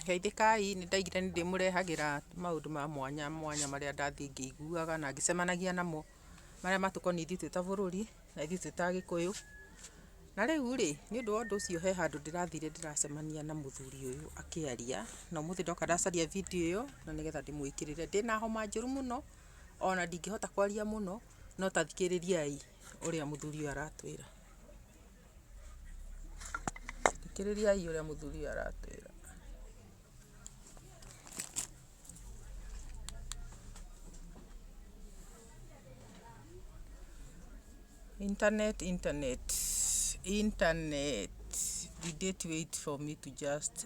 Geithĩkai, nĩ ndaigire nĩ ndĩmũrehagĩra maũndũ ma mwanya mwanya marĩa ndathiĩ ngĩiguaga na ngĩcemanagia namo, marĩa matũkoniĩ ithuĩ twĩ ta bũrũri na ithuĩ twĩ ta agĩkũyũ. Na rĩu rĩ, nĩ ũndũ wa ũndũ ũcio he handũ ndĩrathire ndĩracemania na mũthuri ũyũ akĩaria, na ũmũthĩ ndoka ndacaria video ĩyo na nĩgetha ndĩmũĩkĩrĩre. Ndĩna homa njũru mũno, ona ndingĩhota kwaria mũno, No tathikĩrĩriai ũrĩa mũthuri ũyũ aratwĩra. Thikĩrĩriai ũrĩa mũthuri ũyũ aratwĩra. Internet, internet, internet. Did it wait for me to just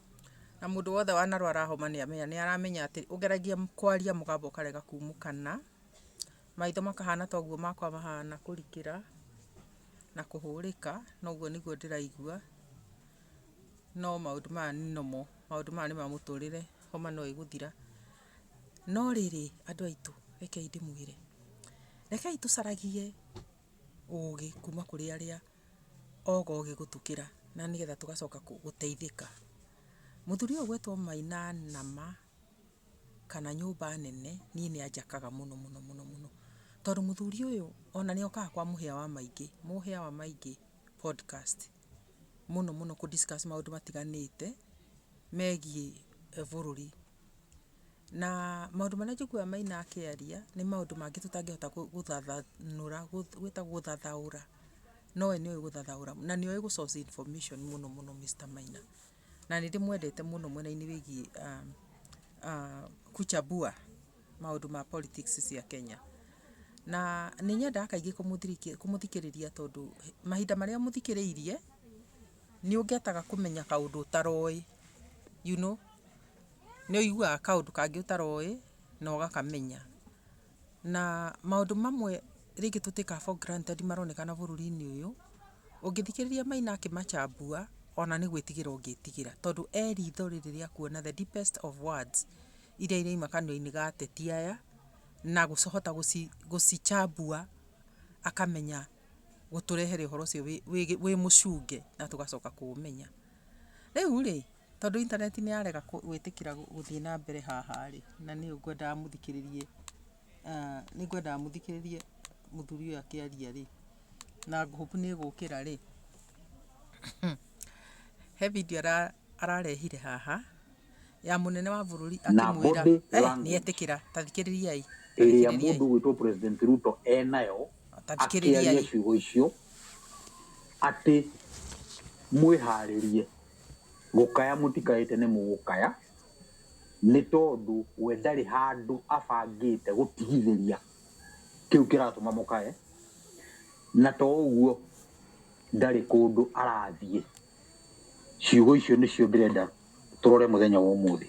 Na mũndũ wothe wanarwara homa nĩ amenya, nĩ aramenya atĩ ũngeragia kwaria mũgambo ũkarega kumũkana, maitho makahana ta ũguo makwa mahana kũrikĩra, na kũhũrĩka, na ũguo nĩguo ndĩraigua, no maũndũ maya nĩ normal, maũndũ maya nĩ ma mũtũrĩre, homa no ĩgũthira. No rĩrĩ, andũ aitũ, rekei ndĩmwĩre, rekei tũcaragie. ũgĩ kuma kũrĩ arĩa oga ũgĩ gũtũkĩra na nĩgetha tũgacoka gũteithĩka. Mũthuri ũyũ ũgwĩtwo Maina Nama kana nyũmba nene niĩ nĩ anjakaga mũno mũno mũno mũno. Tondũ mũthuri ũyũ ona nĩ okaga kwa mũhĩa wa maingĩ, mũhĩa wa maingĩ podcast. mũno mũno kũ discuss maũndũ matiganĩte megiĩ bũrũri. Na maũndũ marĩa njiguaga Maina akĩaria nĩ maũndũ mangĩ tũtangĩhota gũthathanũra, gwĩtagwo gũthathaũra, no we nĩ oĩ gũthathaũra na nĩ oĩ gũ source information mũno mũno Mister Maina. Na nĩ ndĩmwendete mũno mwena-inĩ wĩgiĩ kuchambua maũndũ ma politics cia Kenya. Na nĩ nyendaga kaingĩ kũmũthikĩrĩria tondũ mahinda marĩa ũmũthikĩrĩirie, nĩ ũngĩhota kũmenya kaũndũ ũtaroĩ, you know, nĩ ũiguaga kaũndũ kangĩ ũtaroĩ na ũgakamenya. Na maũndũ mamwe rĩngĩ tũ take for granted maronekana bũrũri-inĩ ũyũ, ũngĩthikĩrĩria Maina akĩmacambua, ona nĩ gwĩtigĩra ũngĩtigĩra. Tondũ e ritho rĩrĩ rĩa kuona the deepest of words irĩa irauma kanua-inĩ ga ateti aya, na kũhota gũcicambua akamenya gũtũrehere ũhoro ũcio wĩ mũcunge na tũgacoka kũũmenya. Rĩu rĩ... Tondũ intaneti nĩ yarega gwĩtĩkĩra gũthiĩ na mbere haha rĩ, na nĩ ngwendaga mũthikĩrĩrie, nĩ ngwendaga mũthikĩrĩrie mũthuri ũyũ akĩaria rĩ, na ngũhũpu nĩ ĩgũkĩra rĩ, he bindiũ ararehire haha ya mũnene wa bũrũri akĩmwĩra, nĩ etĩkĩra, ta thikĩrĩriai. Ĩrĩa mũndũ ũgwĩtwo President Ruto enayo akĩaria ciugo icio atĩ mwĩharĩrie. Gũkaya mũtikayĩte nĩ mũgũkaya nĩ tondũ we ndarĩ handũ abangĩte gũtigithĩria kĩu kĩratũma mũkaye, na to ũguo ndarĩ kũndũ arathiĩ. Ciugo icio nĩcio ndĩrenda tũrore mũthenya wa ũmũthĩ.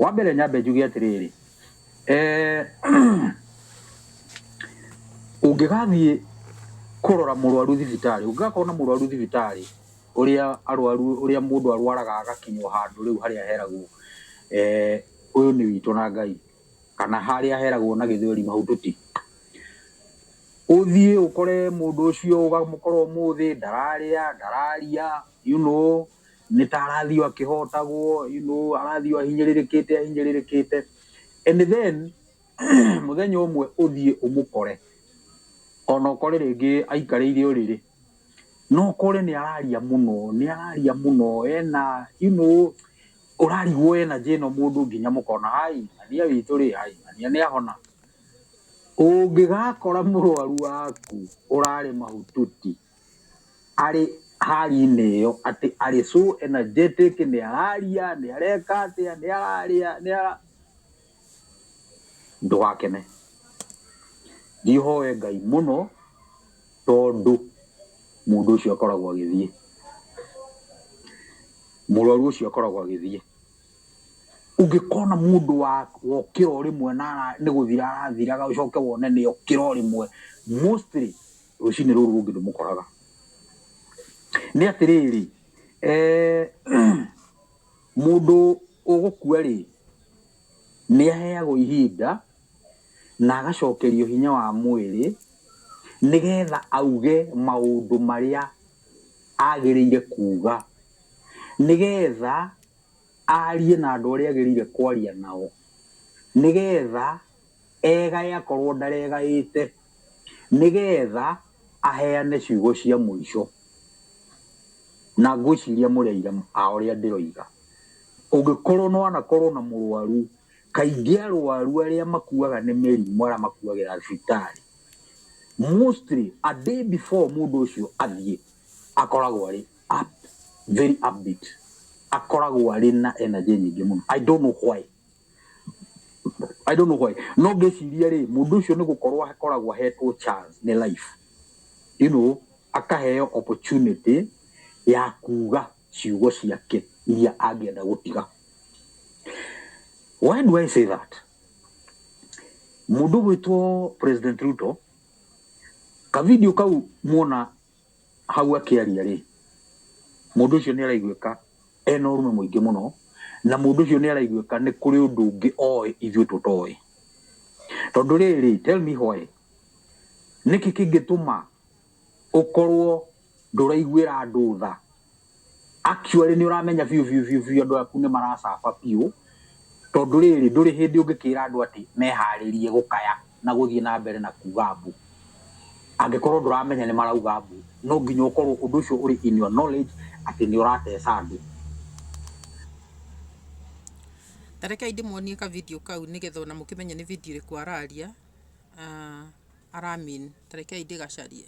Wa mbere nyambe njuge atĩrĩrĩ, ũngĩgathiĩ kũrora mũrwaru thibitarĩ, ũngĩgakorwo na mũrwaru thibitarĩ, Ũrĩa arwaru, ũrĩa mũndũ arwaraga agakinywo handũ rĩu harĩa heragwo ũyũ nĩ witũ na Ngai, kana harĩa heragwo na gĩthweri mahututi. Ũthiĩ ũkore mũndũ ũcio ũkamũkora ũmũthĩ ndararĩa, ndararia, you know, nĩ ta arathiĩ o akĩhotagwo, you know, arathiĩ o ahinyĩrĩrĩkĩte ahinyĩrĩrĩkĩte. And then mũthenya ũmwe ũthiĩ ũmũkore ona ũkore rĩngĩ aikarĩire ũrĩrĩ. No kore nĩ araria mũno, nĩ araria mũno, ena you know, ũrarigwo energy ĩno mũndũ nginya mũkona hai, ng'ania witũ rĩ, hai, ng'ania nĩ ahona. Ũngĩgakora mũrwaru waku ũrarĩ mahututi, arĩ hali-inĩ ĩyo, atĩ arĩ so energetic, nĩ araria, nĩ areka atĩa, nĩ ararĩa, nĩ ara... Ndũgakene. Ndihoe Ngai mũno tondũ mũndũ ũcio akoragwo agĩthiĩ. Mũrwaru ũcio akoragwo agĩthiĩ. Ũngĩkona mũndũ wokĩra o rĩmwe na nĩ gũthira arathiraga ũcoke wone nĩ okĩra o rĩmwe, mostly rũcinĩ rũrũ rũngĩ ndũmũkoraga. Nĩ atĩrĩrĩ, Mũndũ ũgũkua-rĩ, nĩaheagwo ihinda na agacokerio hinya wa mwĩrĩ nĩ getha auge maũndũ marĩa agĩrĩire kuuga, nĩ getha arie na andũ arĩa agĩrĩire kwaria nao, nĩ getha... eegae akorwo ndaregaĩte, nĩgeetha aheane ciugo cia mũico, na ngwĩciria mũrĩ aira a ũrĩa ndĩroiga. Ũngĩkorwo nĩ wanakorwo na mũrũaru, kaingĩ arũaru arĩa makuaga nĩ mĩrimũ, arĩa makuagĩra thibitarĩ, mostly, a day before mũndũ ũcio athiĩ, akoragwo arĩ up, very upbeat. Akoragwo arĩ na energy nyingĩ mũno. I don't know why. I don't know why no ngĩciria rĩ mũndũ ũcio nĩ gũkorwo akoragwo ahetwo chance nĩ life you know akaheo opportunity ya kuga ciugo ciake iria angĩenda gũtiga why do I say that mũndũ gwĩtwo president Ruto ka video kau muona Hau akĩaria-rĩ, mũndũ ũcio nĩaraiguĩka ena ũrũme mũingĩ mũno, na mũndũ ũcio nĩaraiguĩka nĩ kũrĩ ũndũ ũngĩ oĩ ithuĩ tũtoĩ. Tondũ rĩrĩ, tell me why, nĩkĩ kĩngĩtũma ũkorwo ndũraiguĩra andũ tha Actually nĩ ũramenya biũ biũ biũ biũ andũ aku nĩ maracaba biũ tondũ rĩrĩ ndũrĩ hĩndĩ ũngĩkĩra andũ atĩ meharĩrie gũkaya na gũthiĩ na mbere na kuga mbu angĩkorwo ndũramenya nĩ marauga mbu. No nginya ũkorwo ũndũ ũcio ũrĩ in your knowledge atĩ nĩ ũrateca andũ. Ta rekei ndĩmuonie ka video kau nĩgetha ona mũkĩmenye nĩ video ĩrĩkũ araria ara mean. Ta rekei ndĩgacarie.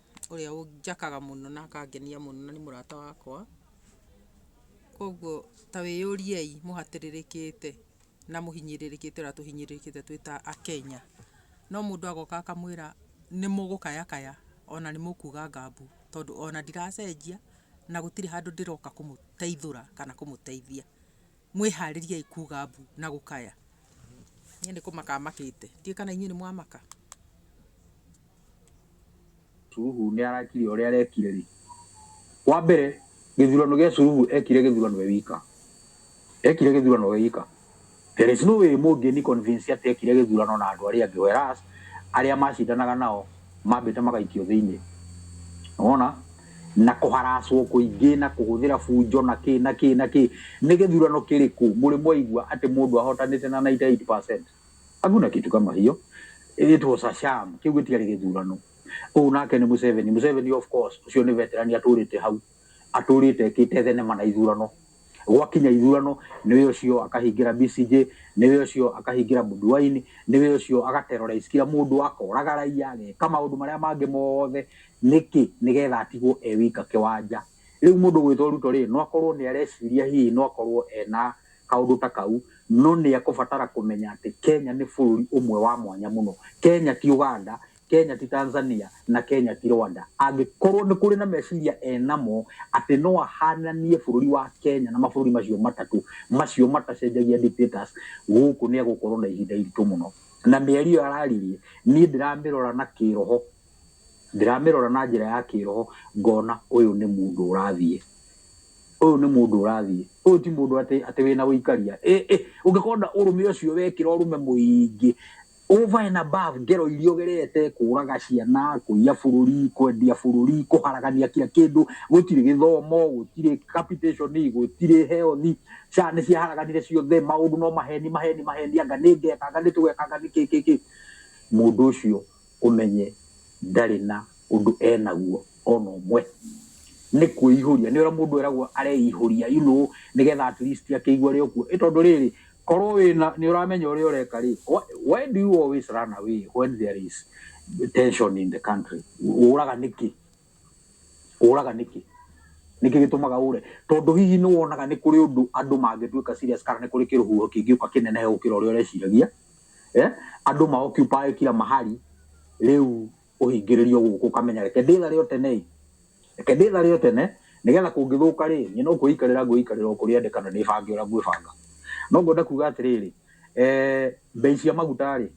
ũrĩa ũnjakaga mũno na akangenia mũno na nĩ mũrata wakwa. Koguo ta wĩyũriei mũhatĩrĩrĩkĩte na mũhinyĩrĩrĩkĩte ũrĩa tũhinyĩrĩrĩkĩte twĩ ta Akenya. No mũndũ agoka akamwĩra nĩ mũgũkayakaya ona nĩ mũkuga ngambu tondũ ona ndiracenjia na gũtirĩ handũ ndĩroka kũmũteithũra kana kũmũteithia. mwĩharĩriai kuga mbu na gũkaya niĩ nĩ kũmaka makĩte ndiĩ kana inyuĩ nĩ mwamaka Suluhu nĩ arakire ũrĩa arekire rĩ, wa mbere gĩthurano gĩa Suluhu ekire gĩthurano e wika, ekire gĩthurano e wika. There is no way mũngĩni convince atĩ ekire gĩthurano na andũ arĩa angĩ whereas arĩa macindanaga nao Mambĩte magaikio thĩinĩ. Nĩwona? Na kũharacwo kũingĩ na kũhũthĩra bunjo na kĩ na kĩ na kĩ. Nĩ gĩthurano kĩrĩkũ mũrĩ mwaigua atĩ mũndũ ahotanĩte na 98%? Hakuna kitu kama hiyo. It was a sham. Kĩu gĩtiarĩ gĩthurano. Ũyũ nake nĩ Museveni. Museveni of course, ũcio nĩ veteran atũrĩte hau. atũrĩte ekĩte thenema na ithurano gwakinya ithurano nĩwe ũcio akahingĩra BCJ nĩwe ũcio akahingĩra Bobi Wine nĩwe ũcio agaterrorize kila mũndũ akoraga raia ageka maũndũ marĩa mangĩ mothe nĩkĩ nĩgetha atigwo e wika kĩwanja rĩu mũndũ gwĩtwo Ruto rĩ no akorwo nĩ areciria hihi no akorwo ena kaũndũ ta kau no nĩ ekũbatara kũmenya atĩ Kenya nĩ bũrũri ũmwe wa mwanya mũno Kenya ti Uganda Kenya ti Tanzania na Kenya ti Rwanda. Angĩkorwo nĩ kũrĩ na meciria enamo atĩ no ahananie bũrũri wa Kenya na mabũrũri macio matatũ, macio matacenjagia dictators, gũkũ nĩ egũkorwo na ihinda iritũ mũno. Na mĩario ĩyo araririe, niĩ ndĩramĩrora na kĩroho, ndĩramĩrora na njĩra ya kĩroho ngona ũyũ nĩ mũndũ ũrathiĩ, ũyũ nĩ mũndũ ũrathiĩ, ũyũ ti mũndũ atĩ wĩna ũikaria. Ũngĩkorwo na ũrũme ũcio wekĩra ũrũme mũingĩ, Over and above ngero iria ũgerete, kũũraga ciana, kũiya bũrũri, kwendia bũrũri, kũharagania kira kĩndũ, gũtirĩ gĩthomo, gũtirĩ capitation, gũtirĩ health, SHA nĩ ciaharaganire ciothe, maũndũ no maheni, maheni, maheni, anga nĩ ngeka, anga nĩ tũgeka, anga nĩ kĩ, kĩ, kĩ. Mũndũ ũcio ũmenye ndarĩ na ũndũ e naguo. ona ũmwe nĩ kwĩihũria nĩ ũrĩa mũndũ eragwo areihũria you know nĩgetha at least akĩigua rĩ okuo ĩ tondũ rĩrĩ korwo wĩna nĩ ũramenya ũrĩa ũreka rĩ wh- why do you always run away when there is tension in the country ũraga nĩkĩ ũraga nĩkĩ nĩkĩ gĩtũmaga ũre tondũ hihi nĩ wonaga nĩ kũrĩ ũndũ andũ mangĩtuĩka serious kana nĩ kũrĩ kĩrũhuho kĩngĩũka kĩnenehe gũkĩra ũrĩa ũreciragia eh? andũ maoccupy kila mahali rĩu Kũhingĩrĩrio gũkũ ũkamenya reke ndĩthare o tene-ĩ, reke ndĩthare o tene, nĩgetha kũngĩthũka-rĩ, niĩ no kwĩikarĩra ngwĩikarĩra o kũrĩendeka na ndĩbange ũrĩa ngwĩbanga. No ngwenda kuga atĩrĩrĩ, mbei cia maguta-rĩ,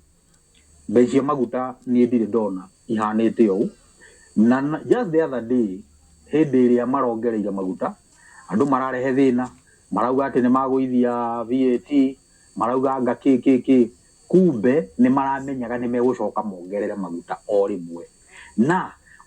mbei cia maguta niĩ ndirĩ ndona ihanĩte ũũ, na just the other day hĩndĩ ĩrĩa marongereire maguta, andũ mararehe thĩna, marauga atĩ nĩmagũithia VAT, marauga anga kĩ kĩ kĩ, Kumbe nĩ maramenyaga nĩ megũcoka mongerere maguta o rĩmwe. Na,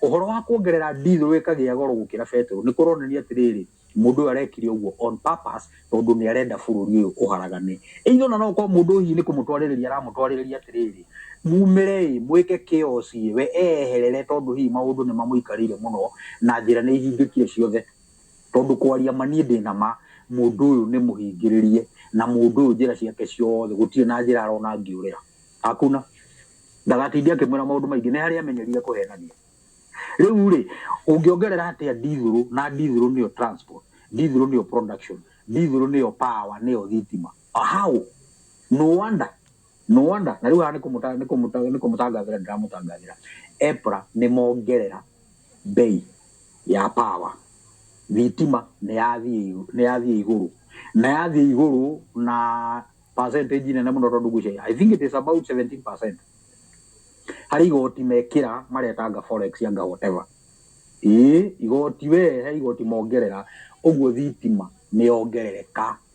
ũhoro wa kuongerera ndithũ ĩkagĩa goro gũkĩra betũrũ nĩ kũronania atĩrĩrĩ, mũndũ ũyũ arekire ũguo on purpose tondũ nĩ arenda bũrũri ũyũ ũharagane. Either o na no gũkorũo mũndũ ũyũ hihi nĩ kũmũtwarĩrĩria aramũtwarĩrĩria atĩrĩrĩ, mumĩre-ĩ, mwĩke chaos-i-ĩ, we eeherere tondũ hihi maũndũ nĩ mamũikarĩire mũno na njĩra nĩ ihingĩkire ciothe. Tondũ kwaria ma niĩ ndĩ na ma, mũndũ ũyũ nĩ mũhingĩrĩrie, na mũndũ ũyũ njĩra ciake ciothe gũtirĩ na njĩra arona angĩũrĩra. Hakuna. Ndagatinde akĩmwĩra maũndũ maingĩ, nĩ harĩa amenyerire kũhenania. Rĩu-rĩ, ũngĩongerera atĩa ndithũrũ, na ndithũrũ nĩyo transport, ndithũrũ nĩyo production, ndithũrũ nĩyo power, nĩyo thitima. How? No wonder. Nĩwona? Na rĩu haha nĩ kũmũta, nĩ kũmũta, nĩ kũmũtangathĩra ndĩramũtangathĩra. EPRA nĩ mongerera mbei ya power. Thitima nĩ yathiĩ igũ, nĩ yathiĩ igũrũ. Na yathiĩ igũrũ na percentage nene mũno tondũ ngwĩciria, I think it is about 17%. Harĩ igoti mekĩra, maretanga forex anga whatever. Ĩĩ, igoti wee, he igoti mongerera, ũguo thitima nĩ yongerereka.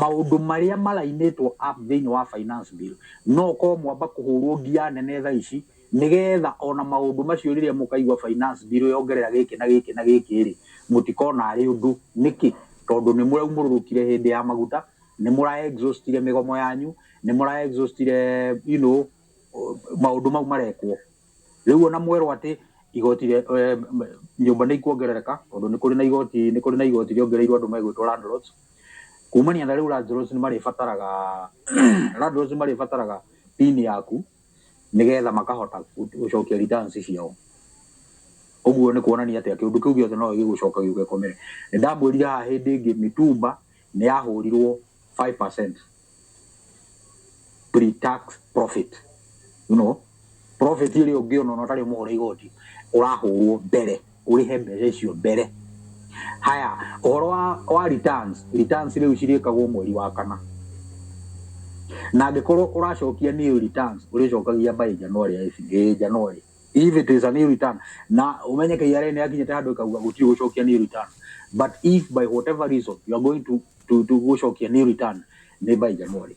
Maũndũ marĩa marainĩtwo up thĩinĩ wa finance bill no gũkorwo mwamba kũhũrwo ngia nene thaa ici nĩgetha ona maũndũ macio rĩrĩa mũkaigua finance bill yongerera gĩkĩ na gĩkĩ na gĩkĩ rĩ mũtikona arĩ ũndũ. Nĩkĩ? Tondũ nĩ mũraumũrũrũkire hĩndĩ ya maguta, nĩ mũra exhaustire mĩgomo yanyu, nĩ mũra exhaustire you know maũndũ mau marekwo. Rĩu ona mwerwo atĩ igoti rĩa, nyũmba nĩ ikuongerereka, tondũ nĩ kũrĩ na igoti, nĩ kũrĩ na igoti rĩongereirwo andũ megwĩtwo landlords, kumania na rĩu landlords nĩ marĩbataraga, landlords nĩ marĩbataraga pin yaku, nĩgetha makahota gũcokia returns ciao. Ũguo nĩ kuonania atĩa, kĩũndũ kĩu gĩothe no gĩgũcoka gĩũke gĩkomere. Nĩ ndamwĩrire haha hĩndĩ ĩngĩ mĩtumba nĩ yahũrirwo five percent, pre-tax profit you know profit ĩrĩa ũngĩona ona ũtarĩ ũmũhũre igoti ũrahũrwo mbere ũrĩhe mbeca icio mbere haya ũhoro wa, wa returns returns rĩu cirĩkagwo mweri wa kana na angĩkorwo ũracokia new returns ũrĩcokagia by january ya ici- eh, january if it is a new return na umenye KRA nĩ yakinyĩte handũ ĩkauga gũtirĩ gũcokia new return but if by whatever reason you are going to tu tu gucokia ni return ni by January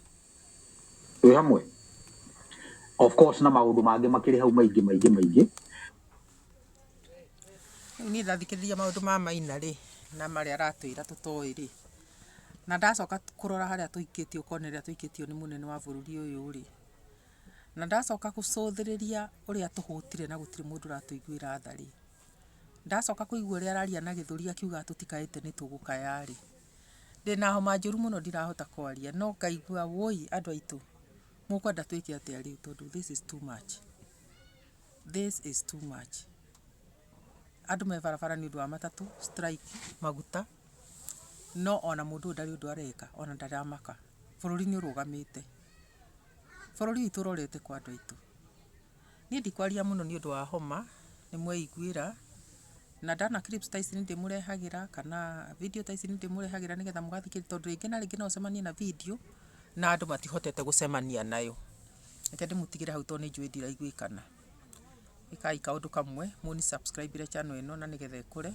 twi hamwe of course na maundu mangi makiri hau maingi maingi maingi ni ndathikiriria maundu ma maina ri na maria aratwira tutoi ri na ndacoka kurora haria tuikitio kone ria tuikitio ni munene wa bururi uyu ri na ndacoka gucuthiriria uria tuhutire na gutiri mundu uratuiguira tha ri Ndacoka kũigua ũrĩa araria na gĩthũri akiuga atũtikae ĩte nĩtũgũkaya-rĩ, ndĩna homa njũru mũno ndirahota kwaria no ngaigua wũi andũ aitũ mũkwenda twĩke atĩa rĩu tondũ this is too much, this is too much. Andũ me barabara nĩũndũ wa matatũ, strike, maguta, no ona mũndũ ũyũ ndarĩ ũndũ areka ona ndaramaka. Bũrũri nĩũrũgamĩte. Bũrũri witũ ũrorete kũ andũ aitũ? Niĩ ndikwaria mũno nĩ ũndũ wa homa, nĩ mweiguĩra, na ndona clips ta ici nĩ ndĩmũrehagĩra, kana video ta ici nĩ ndĩmũrehagĩra nĩgetha mũgathikĩrĩria, tondũ rĩngĩ na rĩngĩ no ũcemanie na video na andũ matihotete gũcemania nayo. Reke ndĩmũtigĩre hau tondũ nĩ njũĩ ndiraiguĩkana. Ĩkaai kaũndũ kamwe, mũni subscribe ĩre channel ĩno na nĩgetha ĩkũre,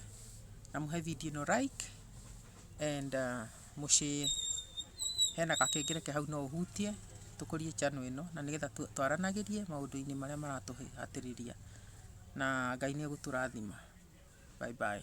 na mũhe video ĩno like. And mũciĩ hena gakengele ke hau no ũhutie, tũkũrie channel ĩno na nĩgetha twaranagĩrie maũndũ-inĩ marĩa maratũhatĩrĩria. Na Ngai nĩ egũtũrathima. Bye bye.